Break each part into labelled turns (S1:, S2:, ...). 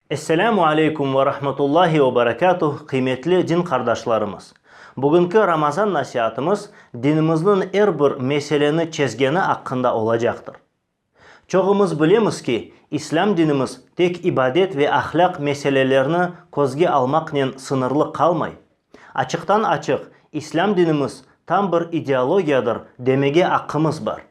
S1: Esselamu aleykum ve rahmetullahi ve berekatuh, qıymetli din qardaşlarımız! Bugünki Ramazan nasiatımız dinimizniñ er bir meseleni çezgeni aqqında olacaqtır. Çoğumız bilemiz ki, İslâm dinimiz tek ibadet ve ahlâq meselelerni közge almaqnen sıñırlı qalmay. Açıqtan-açıq, İslâm dinimiz tam bir ideologiyadır demege aqqımız bar.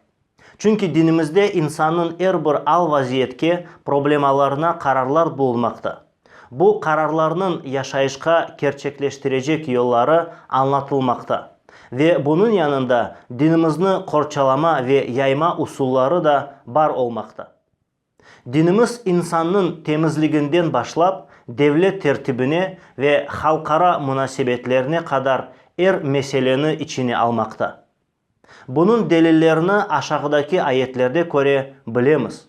S1: Çünki dinimizde insannıñ er bir al-vaziyetke, problemalarına qararlar bulunmaqta. Bu qararlarnıñ yaşayışqa kerçekleştirecek yolları añlatılmaqta ve bunıñ yanında dinimizni qorçalama ve yayma usulları da bar olmaqta. Dinimiz insannıñ temizliginden başlap devlet tertibine ve halqara munasebetlerine qadar er meseleni içine almaqta. Bunıñ delillerini aşağıdaki ayetlerde köre bilemiz.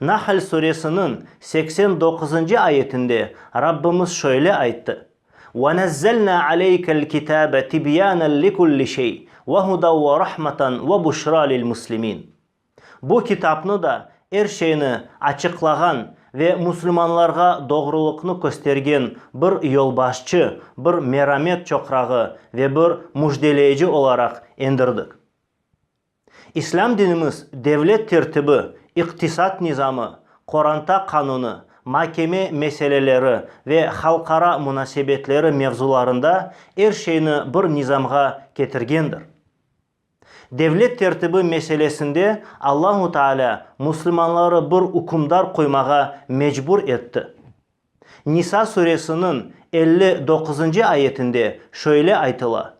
S1: Nahl Suresiniñ seksen doquzıncı ayetinde Rabbimiz şöyle ayttı, Ve nezzelna aleykel kitabe tibyanen li kulli şey ve huden ve rahmeten ve buşra lil muslimin. Bu kitapnı da er şeyni açıqlağan ve musulmanlarğa doğrulıqnı köstergen bir yolbaşçı, bir meramet çoqrağı ve bir müjdeleyci olaraq endirdik. İslâm dinimiz devlet tertibi, iqtisat nizamı, qoranta qanunı, makeme meseleleri ve halqara munasebetleri mevzularında er şeyni bir nizamğa ketirgendir. Devlet tertibi meselesinde Allahu Taalâ muslimanları bir ükümdar qoymağa mecbur etti. Nisa suresiniñ elli doquzıncı ayetinde şöyle aytıla,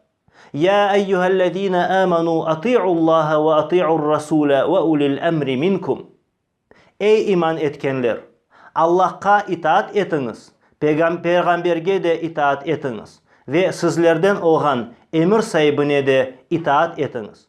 S1: Ya eyyuhellezine amenu ati'ullaha ve ati'ur-rasule ve ulil emri minkum. Ey iman etkenler! Allahqa itaat etiñiz, peyğamberge de itaat etiñiz ve sizlerden olğan emir saibine de itaat etiñiz.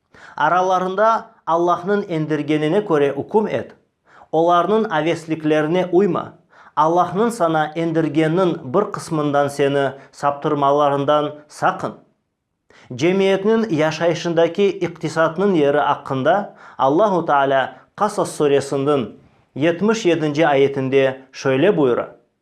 S1: Aralarında Allahnıñ endirgenine köre üküm et, olarnıñ avesliklerine uyma, Allahnıñ saña endirgenniñ bir qısmından seni saptırmalarından saqın. Cemiyetniñ yaşayışındaki iqtisatnıñ yeri aqqında Allahu Taalâ Qasas Suresiniñ yetmiş yedinci ayetinde şöyle buyura,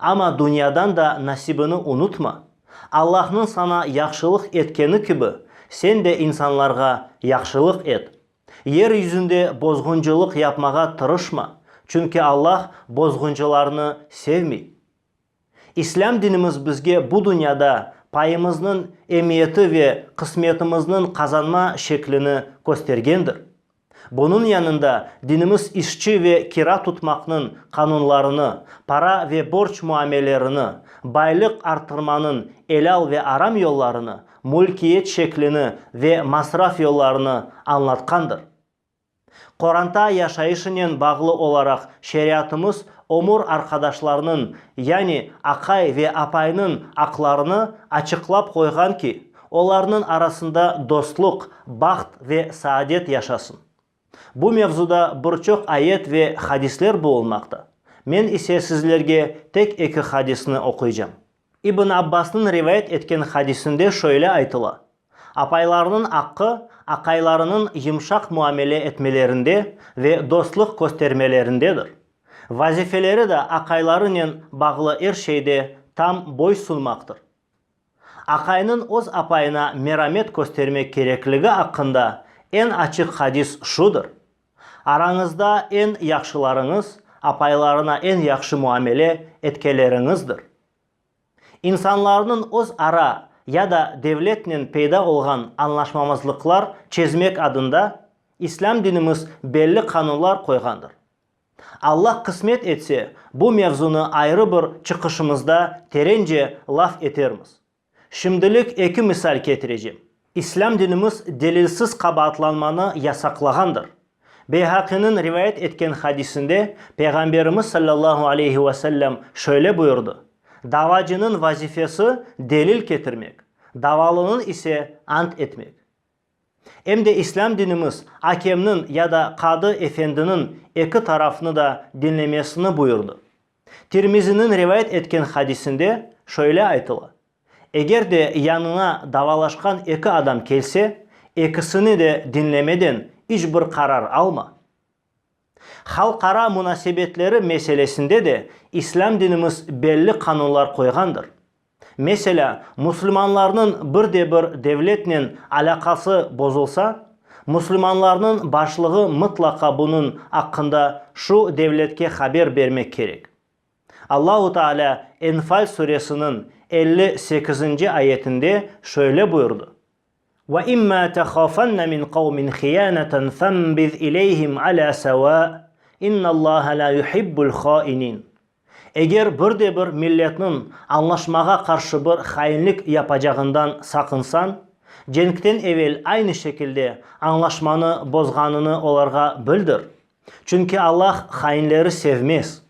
S1: Amma dünyadan da nasibini unutma, Allahnıñ saña yahşılıq etkeni kibi, sen de insanlarğa yahşılıq et. Yer yüzünde bozğuncılıq yapmağa tırışma, çünki Allah bozğuncılarnı sevmey. İslâm dinimiz bizge bu dünyada payımıznıñ emiyeti ve qısmetimizniñ qazanma şeklini köstergendir. Bunıñ yanında dinimiz işçi ve kira tutmaqnıñ qanunlarını, para ve borç muamelerini, baylıq arttırmanıñ elâl ve aram yollarını, mülkiyet şeklini ve masraf yollarını añlatqandır. Qoranta yaşayışınen bağlı olaraq şeriatımız ömür arqadaşlarnıñ, yani aqay ve apaynıñ aqlarını açıqlap qoyğan ki, Olarnıñ arasında dostluq, baht ve saadet yaşasın. Bu mevzuda bir çoq ayet ve hadisler bulunmaqta. Men ise sizlerge tek eki hadisni oquycam. İbn Abbasnıñ rivayet etken hadisinde şöyle aytıla, Apaylarnıñ aqqı, aqaylarınıñ yımşaq muamele etmelerinde ve dostluq köstermelerindedir. Vazifeleri de aqaylarınen bağlı er şeyde tam boy sunmaqtır. Aqaynıñ öz apayına meramet köstermek kerekligi aqqında eñ açıq hadis şudır, Arañızda eñ yahşılarıñız apaylarına eñ yahşı muamele etkeleriñizdir. İnsanlarnıñ öz ara ya da devletnen peyda olğan añlaşmamazlıqlar çezmek adında İslâm dinimiz belli qanunlar qoyğandır, Alla qısmet etse, bu mevzunı ayrı bir çıqışımızda terence laf etermiz. Şimdilik eki misal ketirecem. İslâm dinimiz delilsiz qabaatlanmanı yasaqlağandır. Beyhaqiniñ rivayet etken hadisinde Peyğamberimiz sallallahu aleyhi ve sellem şöyle buyurdı, Davacınıñ vazifesi, delil ketirmek, davalınıñ ise, ant etmek. Em de İslâm dinimiz akemniñ ya da qadı efendiniñ eki tarafnı da diñlemesini buyurdı. Tirmiziniñ rivayet etken hadisinde şöyle aytıla, Eger de yanına davalaşqan eki adam kelse, ekisini de diñlemeden iç bir qarar alma. Halqara munasebetleri meselesinde de İslâm dinimiz belli qanunlar qoyğandır. Meselâ, musulmanlarnıñ bir de bir devletnen alâqası bozulsa, musulmanlarnıñ başlığı mıtlaqa bunıñ aqqında şu devletke haber bermek kerek. Allahu Taalâ Enfal suresiniñ elli sekizinci ayetinde şöyle buyurdı. Ve imma tehâfenne min qavmin hiyaneten fenbiz ileyhim alâ sevâ, innallâhe lâ yuhibbul hâinin. Eger bir de bir milletniñ añlaşmağa qarşı bir hainlik yapacağından saqınsañ, cenkten evel aynı şekilde añlaşmanı bozğanını olarğa bildir. Çünki Allah hainleri sevmez.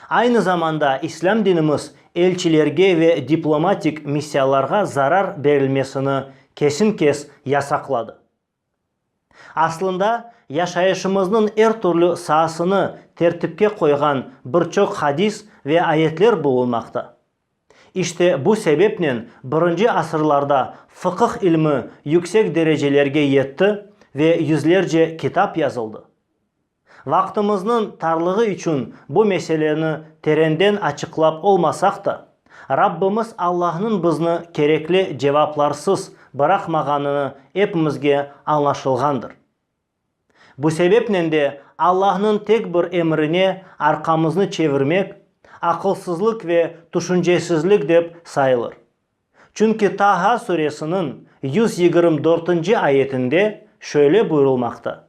S1: Aynı zamanda İslâm dinimiz elçilerge ve diplomatik missiyalarğa zarar berilmesini kesin-kes yasaqladı. Aslında, yaşayışımıznıñ er türlü saasını tertipke qoyğan bir çoq hadis ve ayetler bulunmaqta. İşte bu sebepnen birinci asırlarda fıqıh ilmi yüksek derecelerge yetti ve yüzlerce kitap yazıldı. Vaqtımıznıñ tarlığı içün bu meseleni terenden açıqlap olmasaq da, Rabbimiz Allahnıñ bizni kerekli cevaplarsız bıraqmağanını epimizge añlaşılğandır. Bu sebepnen de Allahnıñ tek bir emrine arqamıznı çevirmek aqılsızlıq ve tüşüncesizlik dep sayılır. Çünki Taha suresiniñ yüz yigirmi dörtünci ayetinde şöyle buyurılmaqta.